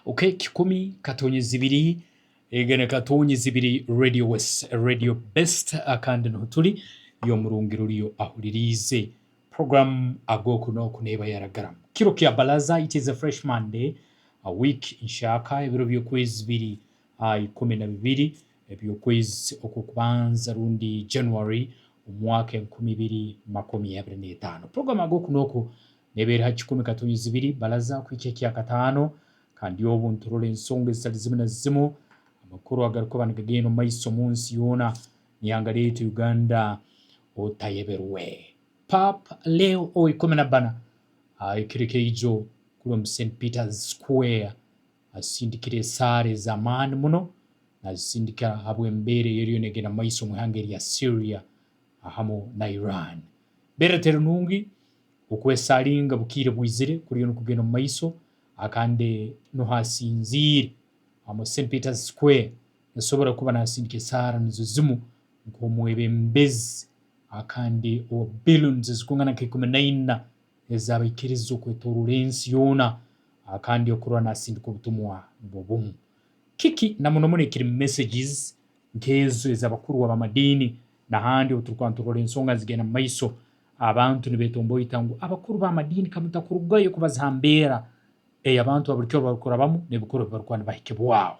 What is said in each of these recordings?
Okay kikumi katonye zibiri ega ni katonye zibiri radio west radio best kandi niho turi iyo murungi ruriyo ahuririize program agoku noku neba yaragaramu kiro kya balaza it is a fresh monday a week nshaka ebiro byokwezi biri a ikumi na bibiri ebyokwezi okwokubanza rundi January omwaka enkumi ibiri makumi abiri n'etaano program agoku noku nebeera aha kikumi katonyezo ibiri baraza kuhikya ekya kataano, kandi obu niturora ensonga ezitari zimu na zimu, amakuru agarikuba nigagenda omu maiso omu nsi yoona n'eihanga ryaitu Uganda otayeberwe. Paapa Leo owa ikumi na bana ahikirika eijo kuri omu St Peter's Square asindikire esaara ez'amaani muno nazisindika ahabw'embeera ey'eriyo negenda mu maiso omu ihanga erya Syria ahamu na Iran. Embeera teri nungi. Okwesaringa bukiire bwizire kuriyo nikugenda omu maiso aha kandi nuho asinziire amu St Peter's Square yasobora kuba nasindika esaara nizo zimu nk'omwebembezi aha kandi owa billions ezikungana nka ikumi na ina ez'abaikiriza okwetoroora ensi yoona aha kandi okurora nasindika obutumwa nubwo bumu kiki na muno muno ekiri messages nk'ezo ez'abakuru ab'amadiini nahandi obu turikuba niturora ensonga nizigenda mu maiso Abantu nibetomboita ngu abakuru b'amadiini kamutakurugayo kubaziha mbeera ei abantu ba bulikyo barikurabamu n'ebikoro ebi barikuba nibahikibwaho.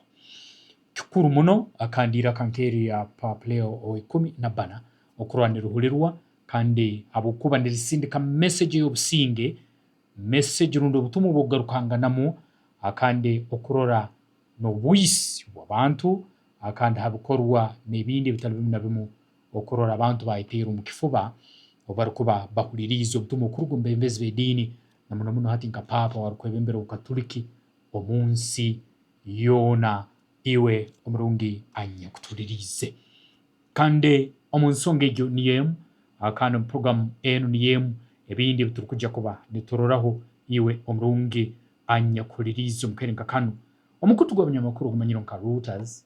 Kikuru muno kandi eiraka nk'erya Paapa Leo ow'eikumi na bana okurola nirihurirwa kandi ahabw'okuba nirisindika mesegi ey'obusinge, mesegi rundi obutumwa obw'okugarukanganamu kandi okurora n'obwisi bw'abantu kandi ha bikorwa n'ebindi ebitari bimu na bimu. Okurora abantu baayeteera omu kifuba obu barikuba bahuririize obutumwa okuruga omu beebembezi b'ediini, na muno muno hati nka Paapa ow'arikwebembera Obukaturiki omu nsi yoona, iwe omurungi anyakutuuririize. Kandi omu nshonga egyo niyo emu, kandi omu purogramu enu niyo emu, ebindi ebi turikugya kuba nituroraho, iwe omurungi anyakuhuririize omu kaire nka kanu, omukutu gw'abanyamakuru ogumanyiirwe nka Reuters,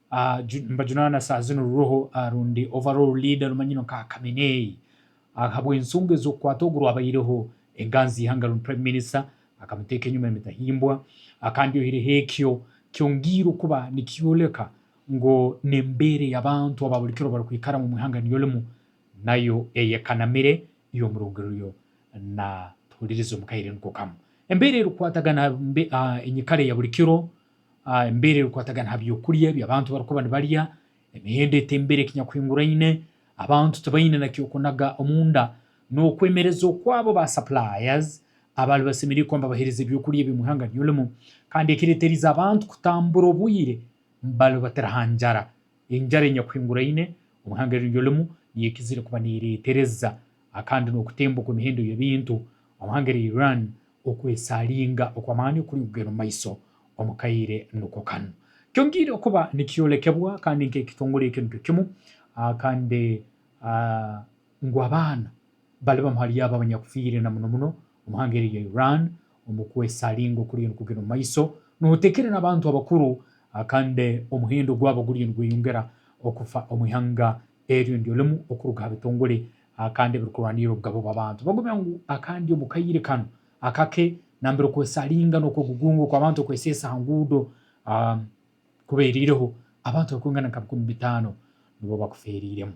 Nibajunaana saaha zinu ruriho rundi Overall Leader rumanyirwe nka Khamenei ahabw'ensonga ez'okukwata ogu rwabaireho enganzi y'eihanga rundi Prime Minister akamuteeka enyima emitahimbwa kandi oihireho ekyo kyongiire okuba nikyoleka ngu n'embeera ey'abantu aba buri kiro barikwikaramu omu ihanga niryo rimu nayo eyekanamire y'omurungi ruriyo natuhuririza omu kaire niko kamu. Embeera erikwatagana aha enyikara eya buri kiro Embeera erikwatagana ha by'okurya ebi abantu barikuba nibarya, emihendo eti embeera ekinyakuhinguraine, abantu tibaine na ky'okunaga omunda, n'okwemereza oku abo ba suppliers abari basemeriire kuba nibabahereza eby'okurya ebi omu ihanga ry'olimu, kandi ekireterize abantu kutambura obwire bari batari ha njara. Enjara enyakuhinguraine omu ihanga eri ry'olimu niyo ekizire kuba neretereza kandi n'okutemba okw'emihendo y'ebintu omu ihanga erya Iran Okwesharinga okw'amaani okuri kugenda omu maiso omu kaire nikwo kanu. Kyongiire kuba nikyolekebwa kandi nk'ekitongore eki nikyo kimu, kandi ngu abaana bari bamwe ahari abo abanyakufiire na muno muno omu ihanga eri rya Iran omu kwesharinga okuriyo nikugenda omu maiso, notekeera n'abantu abakuru kandi omuhendo gwabo guriyo nigweyongera okufa omu ihanga eryo niryo rimu okuruga aha bitongore A Kandi ebirikurwanirira obugabo bw'abantu bagobya ngu a Kandi omu kaire kanu akake nambere okwesaringa n'okwegugunga okw'abantu okweseesa aha nguudo a kubeereireho, abantu barikwingana nka bikumi bitaano nibo bakufeereiremu.